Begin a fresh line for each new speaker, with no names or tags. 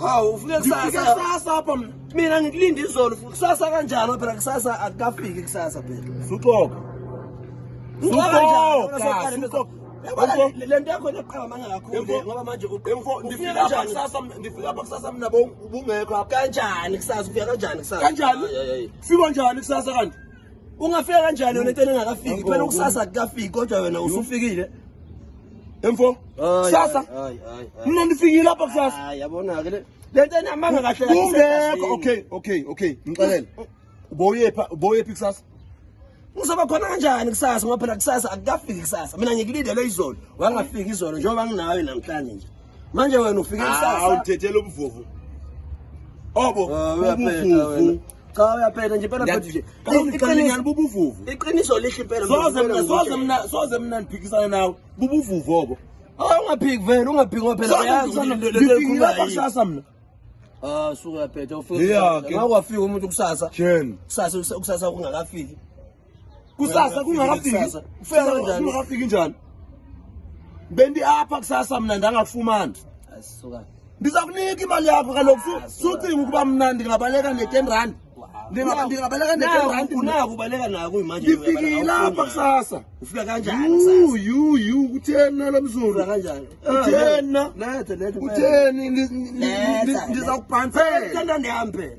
hawu
ufike kusasa apha mna mina
ngikulinde
izolo kusasa kanjalo phela kusasa akukafiki kusasa phela suxoka
lento yakho eqabamanga kakhulu ngoba
manje ndifika apha kusasa mna ubungekho kanjani kusasa
ufika
kanjani kusasa
kanjani fika njani kusasa kanti ungafika kanjani
yona into engakafiki phela ukusasa kukafiki kodwa wena usufikile
emfo kusasa mina ndifikile lapha kusasa yabona-ke
le nto enamanga kahle kungekho okay
okay okay ngixelele ubowuyepha ubowuyephi kusasa ngizoba
khona kanjani kusasa ngoba phela kusasa akukafiki kusasa mina ngikulindele izolo wangafiki izolo njengoba nginawe namhlanje nje manje wena ufike ah, isasa awuthethela ubuvuvu
obo ah,
ubuvuvu cha uyaphetha nje impela mfethu nje iqiniso
bubuvuvu iqiniso lihle impela
soze mina soze mina soze
mina ndiphikisane nawe bubuvuvu obo awungaphiki ah, vele
ungaphiki ngoba phela uyazi kusasa
mina Ah suka
yaphetha ufike ngakwafika umuntu kusasa kusasa kusasa kungakafiki kusasa
kungakafiki ufika kanjani kungakafiki njani bendi apha kusasa mina ndangakufumana asisuka
ndizakunika
imali yakho kaloku sucinga ukuba mna ndingabaleka ne-ten rand ndingabaleka ne-ten rand unaku ubaleka naku
imanje ndifikile apha
kusasa ufika kanjani
yu yu kutheni nalo mzulu
kanjani kutheni
na kutheni
ndizakubhansela ndihambe